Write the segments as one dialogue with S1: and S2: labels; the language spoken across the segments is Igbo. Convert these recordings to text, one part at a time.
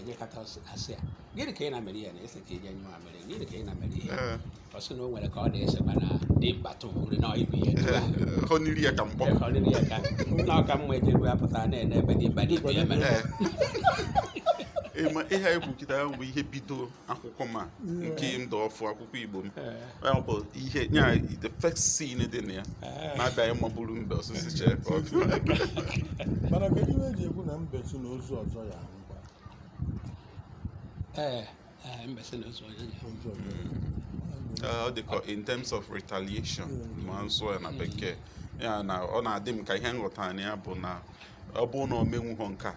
S1: enyekọta asị ya gịnị ka ị na-emere ya na e si ka i je nyụọ amịrị gịnị ka ị na-emere ihe ọ sị na o nwere ka ọ na-esekwa na dị mba tụbụrụ na ibu ihe o nyiri ya ka mkpọ o nyiri ya ka na ọ ka mma ejeru ya pụtara na-ene ebe dị mba dị ibu ya mere ihe anyị kwuu kịta bụ ihe bidoro akwụkwọ ma nke ndụ ọfụ akwụkwọ igbo m ọ bụ ihe nya the first scene dị na ya na-abịaghị mabụrụ mbe osisi chee mana kedu ihe e ji ekwu na mbe sị na ozu ọzọ ya ee mbe sị na ozu ọzọ ya ọ dị ka in terms of retaliation ma m sụọ ya na bekee ya na ọ na-adị m ka ihe m ghọta na ya bụ na ọ bụrụ na o menwughọ nke a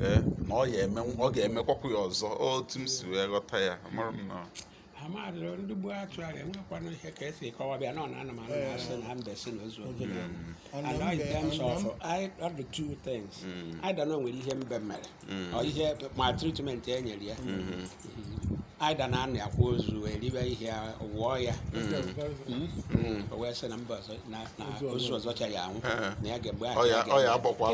S1: ee na ọ ya eme ọ ga-emekwakwu ya ọzọ otu m si wee ghọta ya mana m na amadịrị ndị gbuo atụ ahụ enwekwana ihe ka esi kọwa bịa na ọ na anụmanụ na-asị na mbe sị na ozu oge And na in mbe- terms na of I- ọ dị two things either na o nwere ihe mbe mere mm. ọ ihe maltreatment e nyere ya mm-hmm. either na a nọ akwa ozu eribe ihe wọọ ya mm. mm. o wee sị na mba ọzọ na ozu ọzọ chara ya anwụ eh. na ya ga-egbe ahụ ya ya agbakwa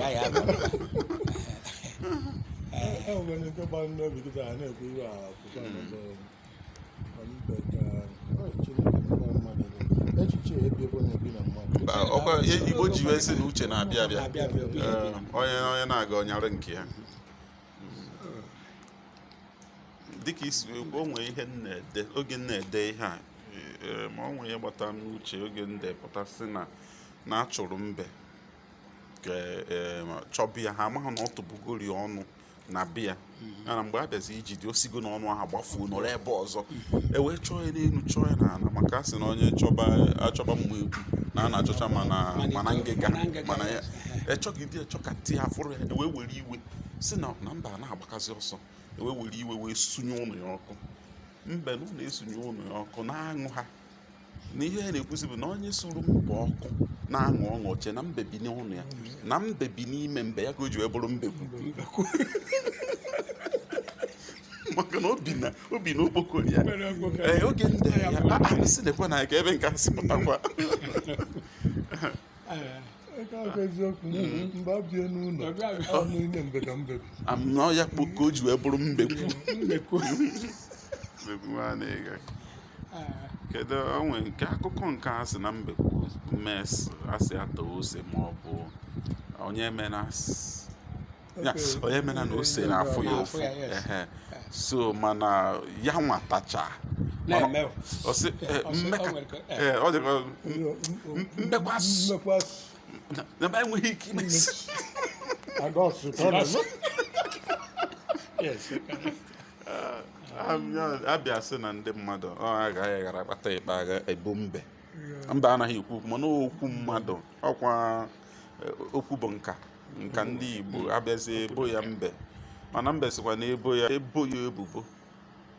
S1: igbo ji wee sị na uche na-abịa abịa onye onye na-aga ọ nyara nke ya dịka isi o nwee ihe na-ede oge m na-ede ihe a e, ma o nwee ihe gbata n'uche oge m depụta sị na na achụrụ mbe e, chọba ya ha amaghị na ọ tụbugori ọnụ na be ya mana mgbe a bịazi ijide o sigo na ọnụ ahụ gbafuo nọrọ ebe ọzọ e wee chọọ ya n'elu chọọ ya n'ala maka a sị na onye chọba achọba mma ekwu na a na-achọcha ma na ma na ngịga mana ya e chọgide e chọkata ya afụrọ ya e wee were iwe sị na na mbe na-agbakazi ọsọ e wee were iwe wee sunye ụnọ ya ọkụ mbe na ụnọ esunye ụnọ ya ọkụ na-aṅụ ha na ihe ha na-ekwuzi bụ na onye suru mbe ọkụ na-aṅụ ọṅụ ọ chee na mbe bi n'ụnọ ya na mbe bi n'ime mbe ya ka o ji wee bụrụ mbekwu maka na o bi na o bi na okpokoro ya ee oge ndị ya asị na-ekwe na ka ebe nke asị pụtakwa anọ ya kpọ ka o ji wee bụrụ mbekwu kedu o nwe nke akụkọ nke a sị na mbekwu mee a sị a taa ose ma ọ bụ onye emena onye emena na ose na-afụ ya ụfụ so mana ya nwa tachaa mmekwasị na ba enweghị ike ime si Yes. a bịa sị na ndị mmadụ ọ agaghị ghara akpata ịkpa agha ebo mbe mbe anaghị ekwu okwu mana okwu mmadụ ọ kwa e, okwu bụ nka nka ndị Igbo a bịazi ebo ya mbe mana mbe sịkwa na ebo ya ebo ya ebubo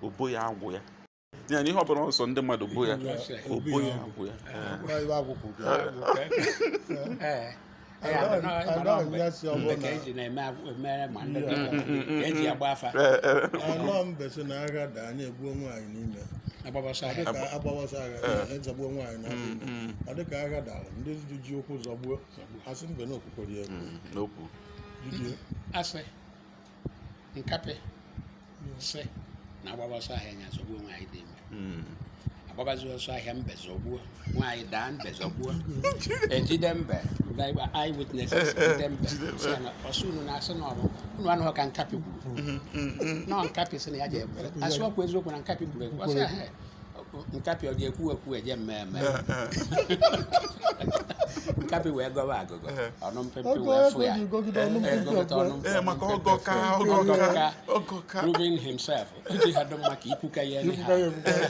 S1: obo ya agwụ ya ya na ihe ọ bụla ọsọ ndị mmadụ bụ ya ọ bụ ya bụ ya a gbawa ọsọ agha zọgbuo nwaanyị na ọ dịka agha dara ndị ji ụkwụ zọgbuo a sị mbe na okwu o kwuru ya egwu asị nkapị sị na a gbaba ọsọ ahịa nya zọgbuo nwaanyị dị ime Mm. a gbabazi ọsọ ahịa mbe zọgbuo nwaanyị daa mbe zọgbuo e jide mbe ndị eye witnesses jide mbe sị ya na ọ sị unu na-asị na ọ bụ unu anụghị ka nkapị kwuru na nkapị sị na ya ji ekwere a sị ọ kwa eziokwu na nkapị kwuru ekwu ọ sị ahụ nkapị ọ ga-ekwu ekwu je-eme eme nkapị wee gọwa agụgọ ọnụ mpịmpị Oge wee fụ ya ego gọgide ọnụ Eh, mpịmpị gọkịta ọnụ ọ bụla. ee maka ọgọ ka ọgọ Ọgọ ka ka. ọgọ ka proving himself o ji ha dụ mma ka ikwuka ya Ikwuka anyhow. ya ekwuka ya.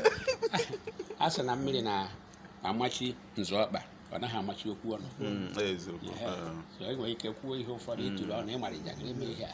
S1: a sị na mmiri na-amachi nzọ ọkpa ọ naghị amachi okwu ọnụ Mm, eziokwu Ehe. Eh. so e nwere ike kwuo ihe ụfọdụ ị tụrụ ọnụ ị mara njakịrị ime ihe a